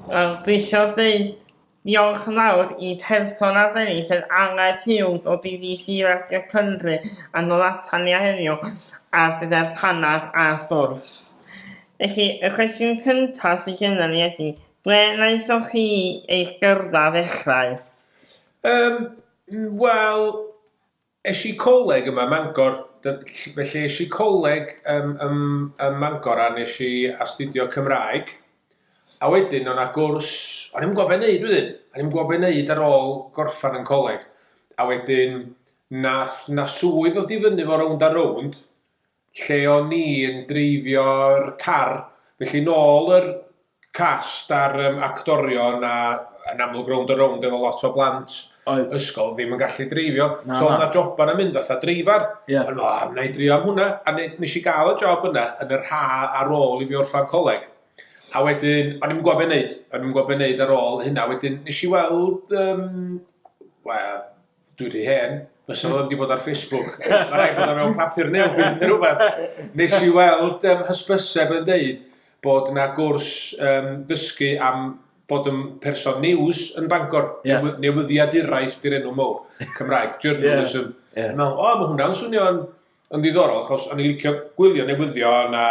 Wel, dwi isio dweud diolch yn fawr i person arbennig sef Aled Hughes o DDC Radio Cymru a nôl atan ni heddiw ar gyfer panad a sgwrs. Felly, y cwestiwn cyntaf sydd genna ni ydy, ble wnaethoch chi eich gyrfa ddechrau? Um, Wel, es i coleg yma ym Mangor, felly es i coleg ym, ym, ym Mangor a nes i astudio Cymraeg, a wedyn o'na gwrs, o'n i'm yn gwybod be' neud wedyn, o'n i'm yn gwybod be' neud ar ôl gorffan yn coleg, a wedyn nath 'na swydd ddod i fyny 'fo rownd a rownd, lle o'n i yn dreifio'r car, felly nôl yr cast a'r um, actorion a yn amlwg rownd a rownd efo lot o blant Oedd. ysgol ddim yn gallu dreifio. Na, so oedd na joban yn mynd fatha dreifar. Yeah. Ond o, na i drio am hwnna. A nes i gael y job yna yn yr ha ar ôl i fi orffan coleg. A wedyn, o'n i'n gwybod beth wneud. O'n i'n gwybod beth wneud ar ôl hynna. Wedyn, nes i weld, um, well, Dwi wedi hen, fysa fo ddim wedi bod ar Facebook. Mae rhaid bod o mewn papur newydd neu rhywbeth. Nes i weld um, hysbyseb yn deud bod yna gwrs um, dysgu am bod yn person news yn Bangor, yeah. newyddiaduraeth di'r enw mowr, Cymraeg, journalism. Yeah. Yeah. Mewn, o, mae hwnna'n swnio'n Yn ddiddorol, achos o'n i'n licio gwylio newyddion a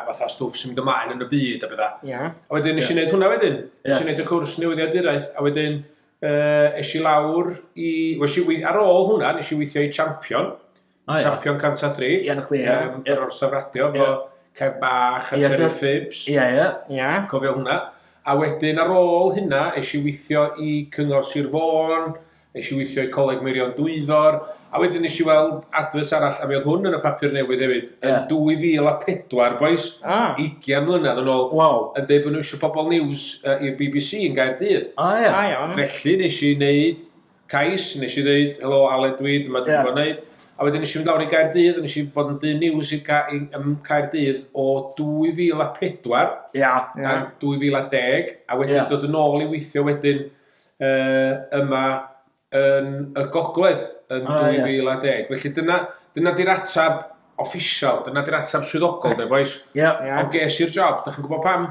fatha stwff sy'n mynd ymlaen yn y byd a bethau. Ie. A wedyn nes i wneud hwnna wedyn. Nes i wneud y cwrs newyddiaduraeth, a wedyn uh, es i lawr i... Wes i, ar ôl hwnna, nes i weithio i Champion. Oh, yeah. Champion 103. Ie, na chwi, ie. Um, yr orsaf radio, fo Cef Bach a yeah, Terry Phibbs. Ie, ie. Ie. Cofio hwnna. A wedyn ar ôl hynna, es i weithio i Cyngor Sir Fôn, Nes i weithio i Coleg Meirion Dwyfor, a wedyn nes i weld advert arall, a mi oedd hwn yn y papur newydd hefyd, yn yeah. 2004, boys, ah. 20 mlynedd yn ôl, wow. yn dweud bod nhw eisiau pobl news uh, i'r BBC yn gael dydd. A ah, ia. Ah, Felly nes i wneud cais, nes i ddeud, helo Aled dwi, dyma dwi'n yeah. gwneud. A wedyn nes i fynd lawr i Gaerdydd, nes i fod yn dyn news i ca i, um, Caerdydd o 2004 yeah. yeah. 2010, a wedyn yeah. dod yn ôl i weithio wedyn uh, yma yn y gogledd yn ah, 2010. Yeah. Felly dyna, dyna di'r atab official, dyna di'r atab swyddogol, de, boys. Yeah. yeah. Ond ges i'r job, da chi'n gwybod pam?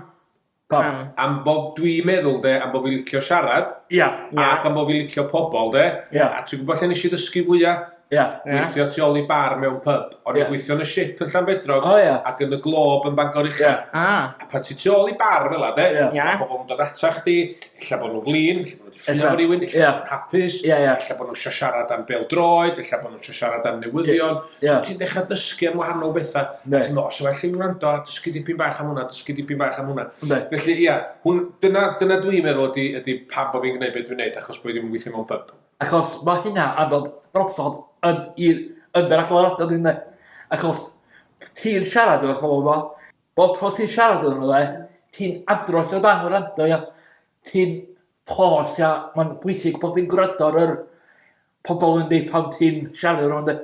Pam? Am bod dwi'n meddwl, de, am bod fi'n licio siarad. Ia. Yeah. Ac am bod fi'n licio pobl, de. Ia. Yeah. A ti'n gwybod lle nes i ddysgu fwyaf? Ia. Gweithio tu ôl i bar mewn pyb. O'n i'n gweithio yn y ship yn Llanbedrog oh, yeah. ac yn y glob yn Bangor Uchel. Yeah. Ah. A pan ti tu ôl i bar fel yna, de, yeah. yeah. pobl yn dod ata chdi, illa bod nhw'n flin, illa bod nhw'n ffynnu efo rhywun, illa yeah. bod nhw'n hapus, yeah, yeah. illa bod nhw'n eisiau siarad am bel droed, illa bod nhw'n eisiau siarad am newyddion. Yeah. Yeah. So ti'n dechrau dysgu am wahanol bethau. Yeah. Ti'n meddwl, os well i wrando, a dysgu dipyn bach am hwnna, dysgu dipyn bach am hwnna. Yeah. Felly, ia, yeah, dyna, dyna dwi'n meddwl ydy, ydy pam bod fi'n gwneud beth dwi'n gwneud, achos bod fi'n gweithio mewn pub. Achos mae hynna anodd drosodd yn i'r yn yr agweddau dwi'n meddwl. Achos ti'n siarad efo'r pobl yma, bob tro ti'n siarad yn nhw ti'n adrodd o dan gwrando ia. Ti'n pos ia, mae'n bwysig bod ti'n gwrando ar yr pobl yn dweud pan ti'n siarad efo nhw ynde.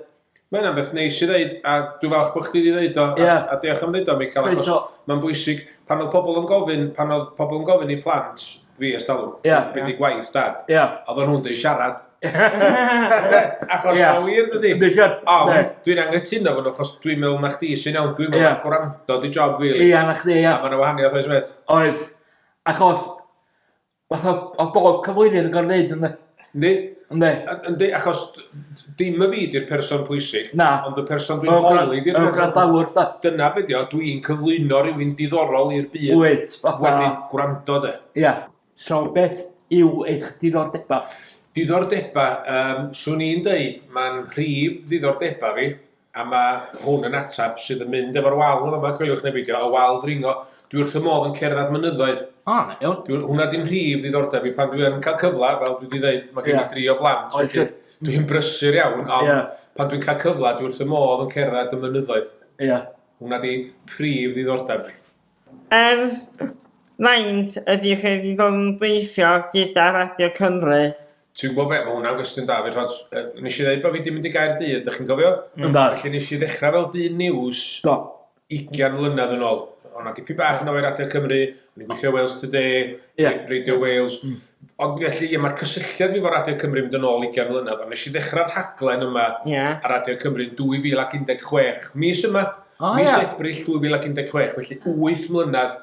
Mae hynna'n beth neis i ddeud, a dwi'n falch bod chdi wedi ddeud o, yeah. a, a diolch am ddeud o, Michael, achos mae'n bwysig, pan oedd pobl yn gofyn, pan oedd pobl yn gofyn i plant fi ers talwm, yeah. beth yeah. gwaith dad, yeah. oedd o'n hwn dweud siarad. achos yeah. mae'n wir dydy. Dwi'n siarad. O, dwi'n anghytuno fo nhw, achos dwi'n meddwl na chdi sy'n iawn, dwi'n meddwl yeah. gwrando di job fi. Really. Ia, na chdi, ia. A mae'n wahaniaeth oes met. Oes. Achos, Fatha o bob cyflwynydd yn gorfod neud yndi? Yndi. Yndi. Yndi achos dim y fi di'r person pwysig. Na. Ond y person dwi'n holi di'r person. Y gwrandawr da. Dyna be dio, dwi'n cyflwyno rhywun diddorol i'r byd. Wyt, fatha. Wedi gwrando de. Ia. So beth yw eich diddordeba? Diddordeba, um, swn i'n deud, mae'n rhif ddiddordeba fi, A ma' hwn yn ateb sydd yn mynd efo'r wal yn fama, coeliwch neu beidio, y wal ddringo. Dwi wrth fy modd yn cerdded at mynyddoedd. O, na iawn. Dwi, hwnna di'n rhif ddiddordeb i pan dwi yn cael cyfle, fel dwi wedi dweud, mae gen i yeah. dri o blant. Oes. Dwi'n brysur iawn, ond yeah. pan dwi'n cael cyfle, dwi wrth fy modd yn cerdded y mynyddoedd. Ie. Yeah. Hwna di prif ddiddordeb. Ers faint ydych chi wedi bod yn gweithio gyda Radio Cymru Ti'n gwybod be, mae hwnna'n gwestiwn da, fyd, ond nes i ddweud bod fi wedi mynd i gael dydd, ydych chi'n gofio? Mm. Da. Felly nes i ddechrau fel dyn news Do. 20 mlynedd yn ôl. Ond na dipyn bach yn oer adeg Cymru, o'n i'n gweithio Wales Today, yeah. Radio Wales. Mm. Ond felly, ie, mae'r cysylltiad fi fo Radio Cymru mynd yn ôl 20 mlynedd, ond nes i ddechrau'r rhaglen yma yeah. ar Radio Cymru 2016, mis yma, oh, mis yeah. Ebrill 2016, felly 8 mlynedd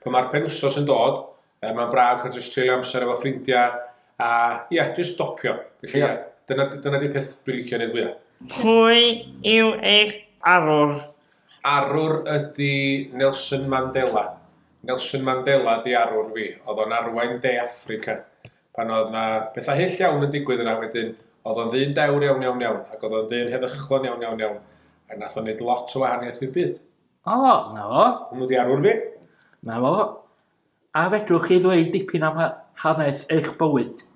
Pan mae'r penwsos yn dod, yy mae'n braf cael jyst treulio amser efo ffrindiau a ia, jyst stopio. Felly ia, dyna, dyna di peth dwi'n licio neud fwya. Pwy yw eich arwr? Arwr ydi Nelson Mandela. Nelson Mandela di arwr fi. Oedd o'n arwain De Affrica pan oedd na pethau hyll iawn yn digwydd yna wedyn. Oedd o'n ddyn dewr iawn iawn iawn ac oedd o'n ddyn heddychlon iawn iawn iawn ac nath o'n neud lot o wahaniaeth i'r byd. O, na fo. Hwnnw di arwr fi. Na fo. A fedrwch chi ddweud dipyn am hanes eich bywyd?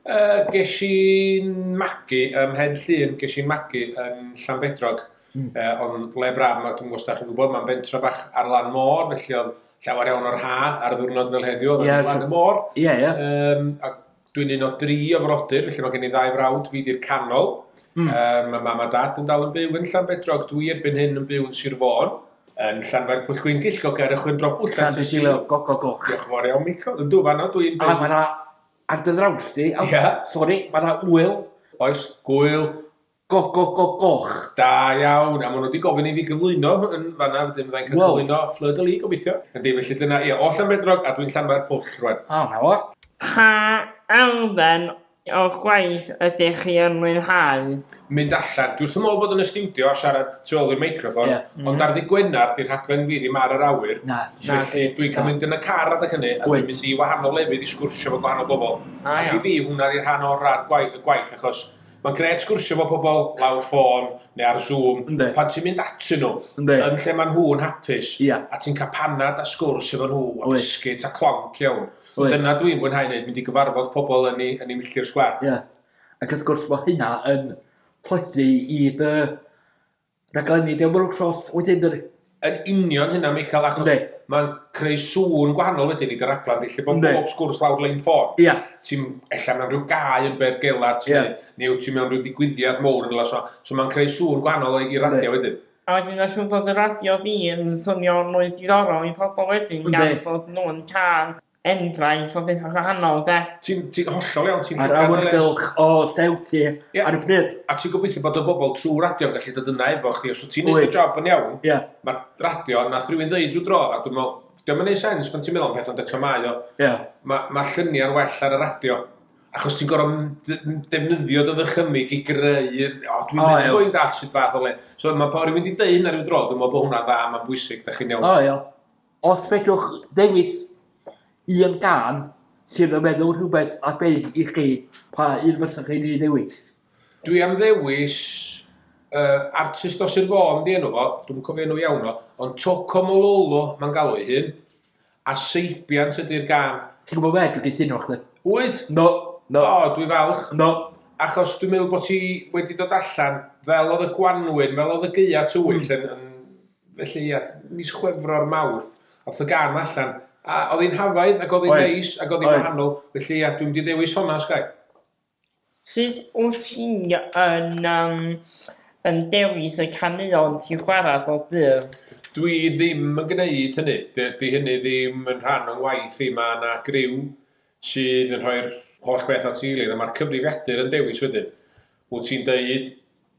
Uh, ges i'n magu ym Mhen Llŷn, ges i'n magu yn Llanbedrog, mm. uh, ond le braf, mae dwi'n gwybod chi'n gwybod, mae'n bentra bach ar lan môr, felly oedd llawer iawn o'r ha ar y ddwrnod fel heddiw, oedd yeah, yn y môr. Ie, yeah, ie. Yeah. Um, a Dwi'n un o dri o frodyr, felly mae gen i ddau frawd, fi di'r canol. Mm. Um, mae mam a dad yn dal yn byw yn Llanbedrog, dwi erbyn hyn yn byw yn Sir Fôn, yn Llanfair Pwyll Gwyngill, goger y chwyn drobwll. Llan dwi'n silo, go, go, go. Diolch yn fawr iawn, Mico. Yn dwi fanno, dwi'n byw. A mae yna, ar dy ddraws di, yeah. sori, mae yna wyl. Oes, gwyl, Goch, goch, goch, goch. Da iawn. A maen nhw wedi gofyn i fi gyflwyno yn fanna, wedyn fyddai'n cael wow. cyflwyno Fleur de Lis, gobeithio. Ydy, felly dyna, ie, o Llanbedrog, a dwi'n Llanfair Pwll rwan. O, na fo. Pa elfen o'ch gwaith ydych chi yn mwynhau? Mynd allan. Dwi wrth fy modd bod yn y stiwdio a siarad tu ôl i'r meicroffon, yeah. ond mm. ar ddi Gwener, di'r rhaglen fi ddim ar yr awyr. Na. Felly dwi'n cael mynd yn y car adeg hynny, a dwi'n mynd i wahanol lefydd i sgwrsio efo gwahanol bobl. Ah, a i fi, hwnna di'r rhan o'r rhan gwaith, y gwaith, achos Mae'n grêt sgwrsio efo pobl lawr ffôn neu ar Zoom, Yndi. pan ti'n mynd atyn nhw, Yndi. yn lle mae nhw'n hapus, Ia. a ti'n cael panad a sgwrs efo nhw, a Wyt. biscuit a clonc iawn. Wyt. Dyna dwi'n fwynhau wneud, mynd i gyfarfod pobl yn ei, yn ei milltir sgwâr. Ia. Ac wrth gwrs, mae hynna yn plethu i dy rhaglenni Dewr Melw'r Llofft wedyn dydi? Yn union hynna Michael achos mae'n creu sŵn gwahanol wedyn i dy raglen di lle bod bob sgwrs lawr lein ffôn. Ia. Ti'n ella mewn rhyw gae yn bedd gelad ti neu wyt ti mewn rhyw digwyddiad mowr yn rhywle so so mae'n creu sŵn gwahanol i radio wedyn. A wedyn os yw'n dod y radio fi yn swnio'n mwy diddorol i phobl wedyn gan bod nhw'n cael enghraifft o beth wahanol, de? Ti'n ti hollol iawn, ti'n A'r awyrgylch o llew ti yeah. ar y pryd. A ti'n gobeithio bod y bobl trwy radio yn gallu dod yna efo chdi, os wyt ti'n gwneud y job yn iawn, yeah. mae radio, nath rhywun ddeud rhyw dro, a dwi'n meddwl, dwi'n meddwl sens pan ti'n meddwl am peth ond eto mae o. Yeah. Mae ma lluniau'n well ar y radio. Achos ti'n gorfod defnyddio dy ddychymig i greu, o, dwi'n oh, meddwl bod i'n dall sydd fath o le. So mae pa rhywun wedi dweud hynna rhyw dro, dwi'n meddwl bod hwnna'n dda, mae'n bwysig, da chi'n iawn. O, oh, iawn. Os fedrwch ddewis un gân sydd yn meddwl rhywbeth am Beirdd i chi, pa un fysech chi'n ei ddewis? Dwi am ddewis yy artist o Sir Fôn 'di enw fo, dwi'm yn cofio enw iawn o, ond Toko Mololo mae'n galw ei hun, a Seibiant ydi'r gân. Ti'n gwybod be, dwi'n cytuno efo chdi. Wyt? No, no. O, dwi falch. No. Achos dwi'n meddwl bod ti wedi dod allan, fel oedd y gwanwyn, fel oedd y gaeaf tywyll yn Felly ia, mis Chwefror, Mawrth, ath y gân allan, a oedd hi'n hafaidd, ac oedd hi'n neis, ac oedd hi'n wahanol, felly ia, dwi'n mynd i ddewis honna, os gai. Sut wyt ti yn um, yn dewis y caneuon ti'n chwarae bob dydd? Dwi ddim yn gwneud hynny, di, di hynny ddim yn rhan o'n ngwaith i, mae yna griw sydd yn rhoi'r holl beth at ei gilydd, a mae'r cyfrifiadur yn dewis wedyn. Wyt ti'n deud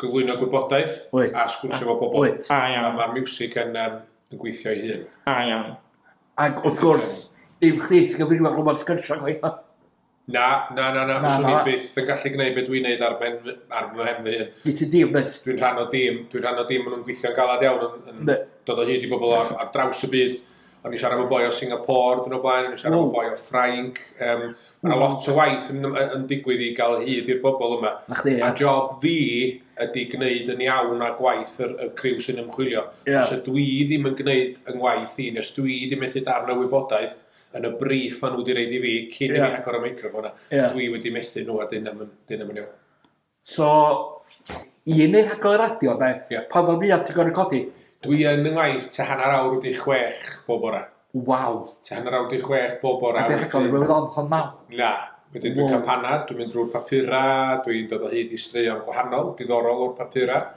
Cyflwyno gwybodaeth a sgwrsio efo pobl. Da iawn. A ma'r miwsig yn yym yn gweithio ei hun. Da iawn. Ag wrth gwrs, dim chdi sy'n cyfrifo ar gwmpas sgyrsia chwaith na? Na, na, na, na, fyswn i byth yn gallu gwneud beth dwi'n neud ar ben fy, ar fy mhen fy hun. Nid ti dîm, nes. Dwi'n rhan o dîm, dwi'n rhan o dîm, maen nhw'n gweithio'n galad iawn, yn, yn dod o hyd i bobl ar, ar draws y byd. O'n i siarad efo boi o Singapore dyn o blaen, o'n i siarad efo boi o Ffrainc, um, Mae lot o waith yn, yn digwydd i gael hyd i'r bobl yma. Na chdi, ia. A job fi ydy gwneud yn iawn a gwaith yr, y criw sy'n ymchwilio. Ia. Os ydw i ddim yn gwneud yng ngwaith i, nes dwi di methu darn o wybodaeth yn y briff maen nhw wedi reid i fi cyn yeah. i mi agor y meicroffon a yeah. dwi wedi methu nhw a dyn am yn iawn. So, i yn ei rhaglen radio, de, yeah. pa ffordd fwyaf ti'n gorau codi? Dwi yn yng ngwaith te hanner awr wedi chwech bob bore. Waw! Te hanner awr wedi chwech bob bore. A dwi'n rhaglen i weld ond hon naw? Na. Wedyn dwi'n cael panad, dwi'n mynd drwy'r papurau, dwi'n dod o hyd i straeon gwahanol, diddorol o'r papurau.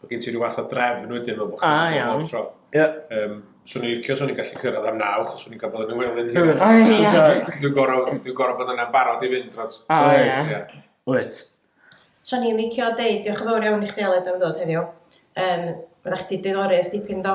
Mae gen ti rhyw fath o drefn wedyn fel bod chi'n ah, meddwl bob tro. Ie. Um, swn i'n licio, swn i'n gallu cyrraedd am naw, chos swn i'n cael bod yn y welyn. Dwi'n gorau bod yna'n barod i fynd dros. O, ie. Wyt. Swn i'n licio deud, diolch yn fawr iawn i chdi Aled am ddod heddiw. Um, Fydda'ch chdi diddori ys dipyn do?